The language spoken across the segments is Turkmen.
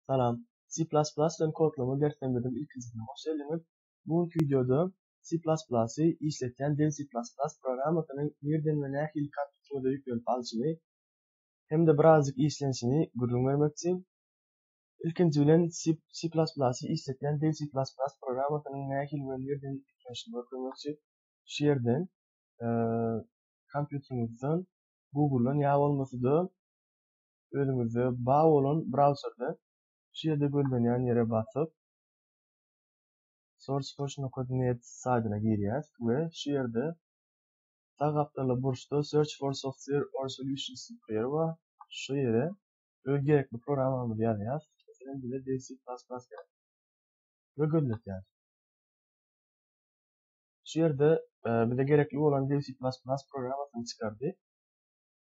Salam. C++ bilen kodlama derslerimizden ilkinjisine hoş geldiňiz. Bu günki wideoda C++ y, işletýän dil C++ programmasyny nirden we nähili kompýuteriňize ýüklenip alşyny hem-de birazajyk işlenişini gürrüň bermekçi. Ilkinji bilen C++ y, işletýän dil C++ programmasynyň nähili we nirden ýüklenişini görkezmekçi. Şu ýerden kompýuteriňizden, Google-dan ýa bolmasa-da özüňizde bar bolan brauzerde şu ýerde gözlenýän ýere basyp sourceforge nokta net saýtyna girýäs we şu ýerde sag gapdalda burçda search for software or solutions diýip bir ýer bar şu ýere öz gerekli programmamyzy ýazýas meselem bize dil c plus plus gerek we gözletýäs şu ýerde bize gerekli bolan dil c plus plus programmasyny çykardy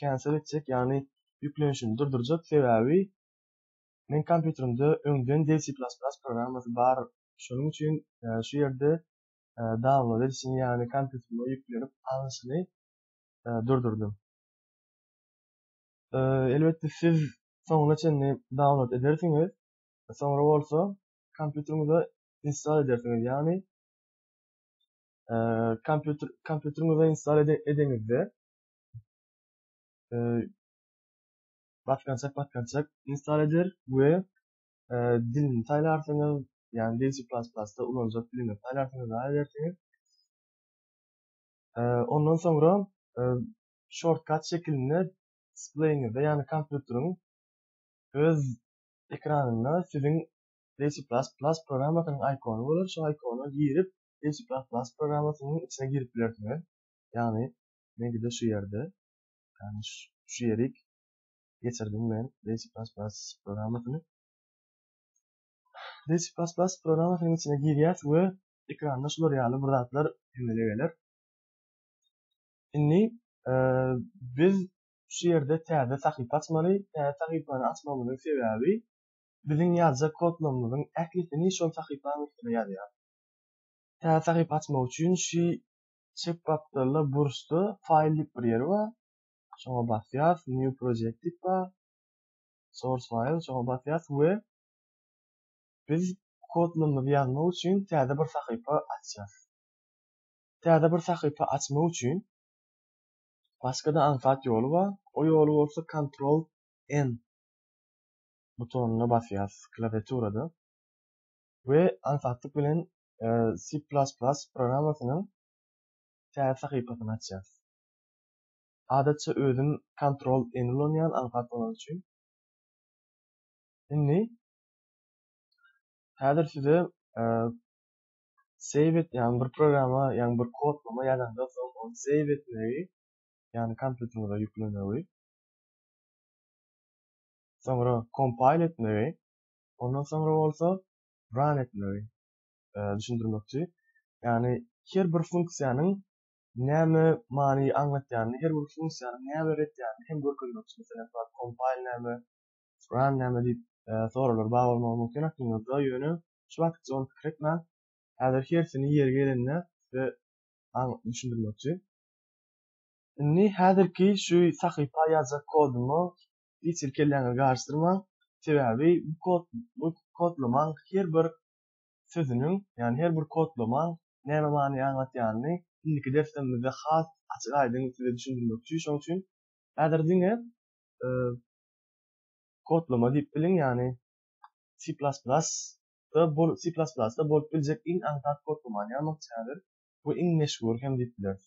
cancel etjek ýagny ýüklenişini durdurjak sebäbi meň kompýuterimde öňden D C plus plus programmasy bar şonuň üçin şu ýerde download edişini ýagny kompýuterime ýüklenip alnyşyny durdurdym. Elbetde siz soňuna çenli download edersiňiz soňra bolsa kompýuteriňize install edersiňiz ýagny kompýuter kompýuteriňize install edeňizde e, batgançak batgançak install eder we e, dilini saýlarsyňyz, ýagny DC++ da ulanjak dilini saýlarsyňyz we edersiňiz. E, ondan soňra e, shortcut şekilinde displeýiňizde, ýagny kompýuteriň öz ekranynda siziň DC++ programmasynyň ikony bolar, şo ikona girip, DC++ programmasynyň içine girip bilersiňiz. Ýagny, Meňkide şu ýerde, ýagny şu ýerik geçirdim men Basic Plus Plus programmasyny. Basic Plus Plus programmasynyň içine girýäs we ekranda şular ýaly bir zatlar emele geler. Indi biz şu ýerde täze sahypa açmaly. Täze sahypany açmamyzyň sebäbi biziň ýazjak kodlarymyzyň ählisini şol sahypanyň üstüne ýazýar. Täze sahypa açmak üçin şu Çep gapdalda burçda File diýip bir ýer bar. Şoňa basýas, New Project diýip bar. Source File şoňa basýas we biz kodlarymyzy ýazmak üçin täze bir sahypa açýas. Täze bir sahypa açmak üçin başga-da aňsat ýoly bar. O ýoly bolsa Ctrl N butonyna basýas klawiaturada we aňsatlyk bilen C++ programmasynyň täze sahypasyny açýarys. Adatça özüm Ctrl N ulanýan aňsat bolany üçin. Indi häzir size save et ýaňy bir programma ýaňy bir kodlama ýazanda soň ony save etmegi ýaňy kompýuteriňize ýüklemegi soňra compile etmegi ondan soňra bolsa run etmegi düşündirmek üçin. Ýagny her bir funksiýanyň näme many aňlatýanyny, her bir funksiýanyň näme beretýanyny hem görkezmek üçin. Meselem, bar compile näme, run näme diýip soraglar bar bolmagy mümkin aklymyzda, ýöne şu wagtça ony pikir etmäň. Häzir hersini ýeri gelende size düşündirmek üçin. Indi häzirki şu sahypa ýazjak kodumy hiç bir kelläňizi garyşdyrmaň. Sebäbi bu kod bu kodlamaň her bir sözüniň, ýagny her bir kodlamaň näme many aňlatýanyny indiki derslerimizde has açyk-aýdyň size düşündirmekçi. Şonuň üçin häzir diňe kodlama diýip biliň, ýagny C++ da bol C++ da bolup biljek iň aňsat kodlamany ýazmakçy häzir. Bu iň meşhur hem diýip bileris.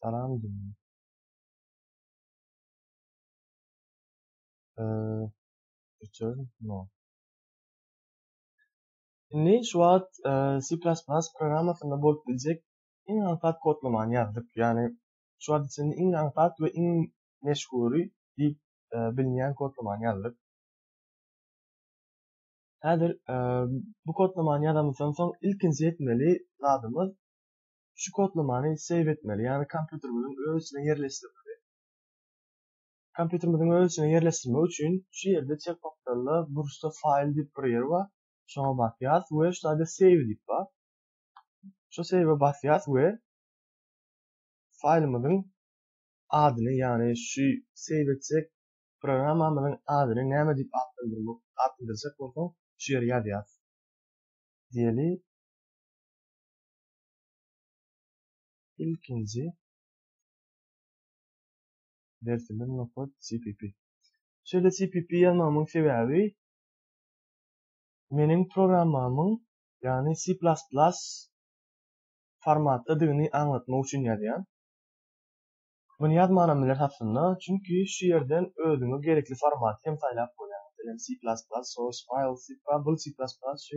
Salam jigim. Eee, üçer, no. Indi şu wagt C++ programmasynda bolup biljek iň aňsat kodlamany ýazdyk. Ýagny şu wagt içinde iň aňsat we iň meşhury diýip bilinýän kodlamany ýazdyk. Häzir bu kodlamany ýazamyzdan soň ilkinji etmeli zadymyz Şu kodlamany save etmeli, ýagny kompýuterimiziň öz içine ýerleşdirmeli. Kompýuterimiziň öz içine ýerleşdirmek üçin şu ýerde çep gapdalda burçda file diýip bir ýer bar. Şoňa basýas we şu taýda save diýip bar. Şu save basýas we faýlymyzyň adyny, ýagny şu save etjek programmamyzyň adyny näme diýip atlandyrmak, atlandyrjak bolsaň şu ýere ýazýas. Diýeli. Ilkinji dersimiz nokod cpp. Şeýle cpp ýazmagymyň sebäbi meniň programmamyň, ýagny C++ formatdadygyny aňlatmak üçin ýazýan. Muny ýazmanam bileris aslynda, çünki şu ýerden özüňe gerekli formaty hem saýlap bolýar. Meselem, C++, source file, zip file, bul C++, şu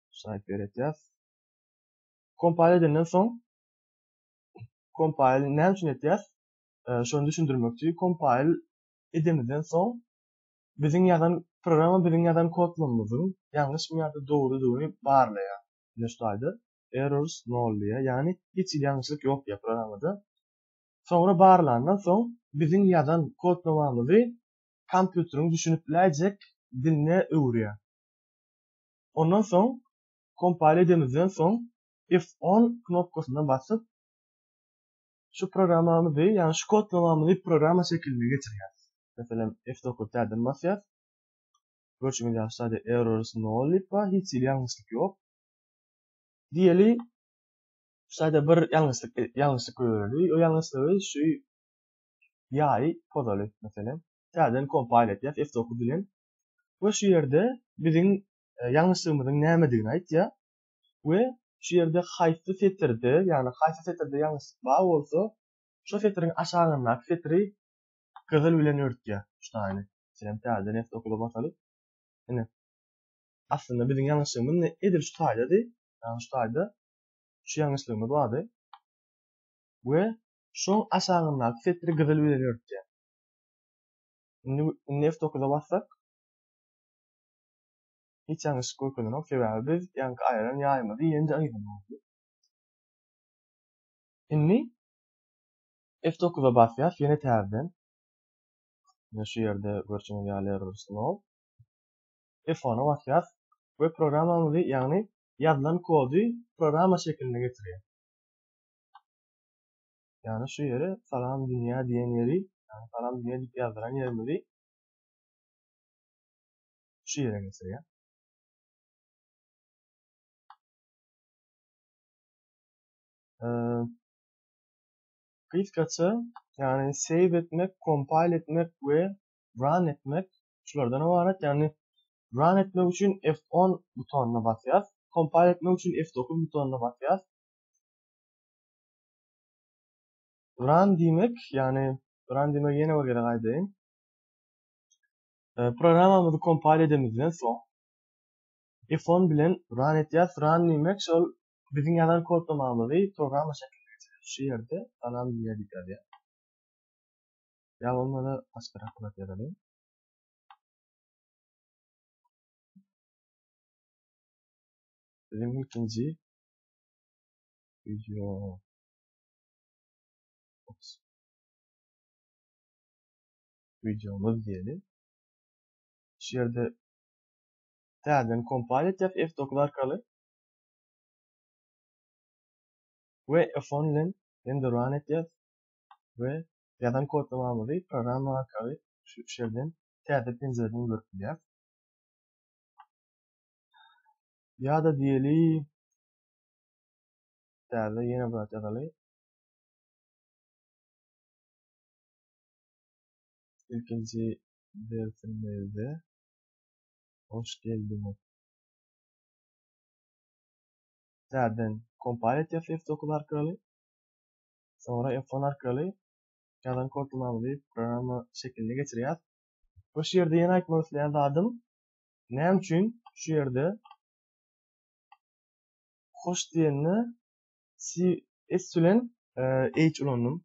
Şaýt beretýäs. Kompile edenden soň kompile näme üçin etýäs? Şony düşündirmek üçin kompile edemizden soň biziň ýazan programma biziň ýazan kodlarymyzyň ýalňyşmy ýa-da dogrudygyny barlaýar. Ine şu taýda errors nol diýýär. Ýagny hiç hili ýalňyşlyk ýok diýýär programmada. Soňra barlandan soň biziň ýazan kodlamamyzy kompýuteriň düşünip biläýjek diline öwürýär. Ondan soň kompile edemizden soň F10 knopkasyna basyp şu programmamyzy, ýagny şu kodlamamyzy programma şekiline geçirýäs. Meselem F9 täzeden basýas. Görşüňiz ýaly şaýda errors nol diýip bar, hiç hili ýalňyşlyk ýok. Diýeli şaýda bir ýalňyşlyk ýalňyşlyk göreli. O ýalňyşlygy şu ýaýy pozaly meselem. Täzeden kompile etýäs F9 bilen. we şu ýerde biziň e, ýalňyşlygymyzyň nämedigini aýtýar we şu ýerde haýsy setirde, ýagny haýsy setirde ýalňyşlyk bar bolsa, şu setiriň aşagyndaky setiri gyzyl bilen örtýär. Şutaýyny. Meselem, täze neft okuwa basaly. Ine. Aslynda biziň ýalňyşlygymyz edil şu taýdady. Ýagny şu taýda şu ýalňyşlygymyz bardy. We şoň aşagyndaky setiri gyzyl bilen örtýär. Indi indi F9-a bassak hiç ýalňyşlyk görkezenok, sebäbi biz ýaňky aýran ýaýymyzy ýene-de aýramaly. Indi F9-a basýas ýene täzeden. Ýa şu ýerde görşüňiz ýaly error slow. F10-a basýas we programmamyzy, ýagny ýazylan kody programma şekilinde getirýär. Ýagny şu ýeri Salam Dünýä diýen ýeri, ýagny Salam Dünýä diýip ýazdyran ýerimizi şu ýere geçirýär. Gysgaça, ýagny save etmek, compile etmek we run etmek şulardan ybarat. Ýagny run etmek üçin F10 butonyna basýas, compile etmek üçin F9 butonyna basýas. Run diýmek, ýagny run diýmek ýene bir gezek aýdaýyn. E, programmamyzy kompile edemizden soň F10 bilen run etýäs. Run diýmek şol biziň ýazan kodlamamyzy programma şekilde geçirýär. Şu ýerde salam diýýär diýip ýazýar. Ýa bolmasa başgarak bir ýazalyň. Biziň ilkinji Video. Ops. Videomuz diýeli. Şu ýerde täzeden kompile etjek F9 arkaly. We F10 bilen endi run etjek we ýazan kodlamamyzy programma arkaly şu ýerden täze penjireden görüp bilýär. Ýa-da diýeli Täze ýene bir zat ýazaly. Ilkinji dersimizde hoş geldiňiz. Täzeden kompile etýär F9 arkaly. Sonra F10 arkaly ýazan kodumyzy programma şekiline geçirýär. Bu ýerde ýene aýtmak isleýän zadym, näme üçin şu ýerde hoş diýende si s bilen e h ulandym.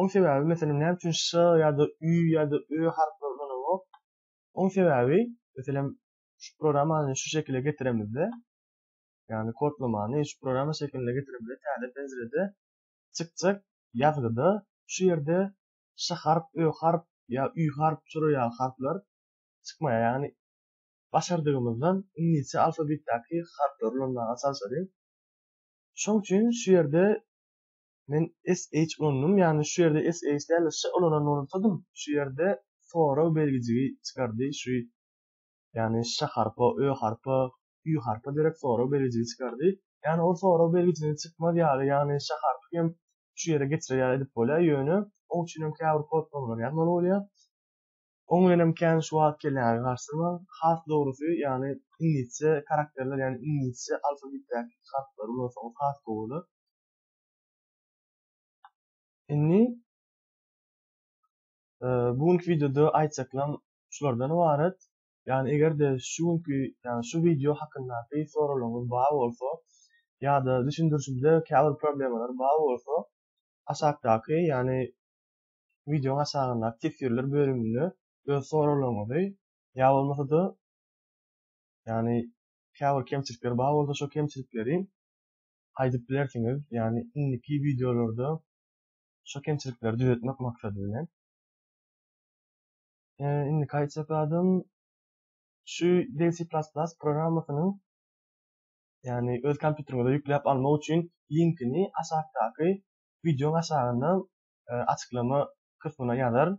Oň sebäbi meselem näme üçin ş ýa-da ü ýa-da ö harplary ulanamok? Oň sebäbi meselem şu programmany şu şekile getiremizde, ýagny kodlamany şu programma şekiline getiremizde täze penjirede çykjak ýazgyda şu ýerde ş harp, ö harp ýa ü harp, şuraýaly harplar çykmaýar. Ýagny başardygymyzdan iňlisçe alfabetdäki harplary ulanmaga çalşaly. Şoň üçin şu ýerde men SH ulandym, ýagny şu ýerde SH däl-de ş ulanan bolsadym, şu ýerde sorag belgijigi çykardy, şu ýagny ş harpa, ö harpa, ü harpa derek sorag belgijigi çykardy. Ýagny ol sorag belgijini çykmaz ýaly, ýagny ş harpy hem şu ýere geçirer ýaly edip bolýar, ýöne oň üçin hem käbir kodpamlar ýazmaly bolýar. Oň bilenem kän şuwagt gelýär, garsynman. Has dogrusy, ýagny iňlisçe karakterler, ýagny iňlisçe alfabetdäki harplar ulansaňyz has gowy bolar. Indi bu günki wideoda aýtjaklarym şulardan ybarat. Ýagny eger-de şu günki, ýagny şu wideo hakyndaky soraglaryňyz bar bolsa ýa-da düşündirişimde käbir problemalar bar bolsa aşakdaky, ýagny wideoň aşagyndaky teswirler bölüminde öz soraglaryňyzy ýa bolmasa-da ýagny käbir kemçilikler bar bolsa şo kemçilikleri aýdyp bilersiňiz, ýagny indiki wideolarda şo kemçilikleri düzetmek maksady bilen. Indiki aýtjak zadym şu Dev C++ programmasynyň ýagny öz kompýuteriňize ýükläp almak üçin linkini aşakdaky wideoň aşagynda açyklama kysmyna ýazaryn.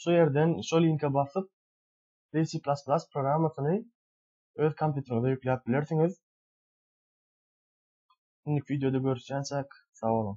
Şu ýerden şo linke basyp C++ programmasyny öz kompýuteriňize ýükläp bilersiňiz. Indiki wideoda görüşýänçäk, sag boluň!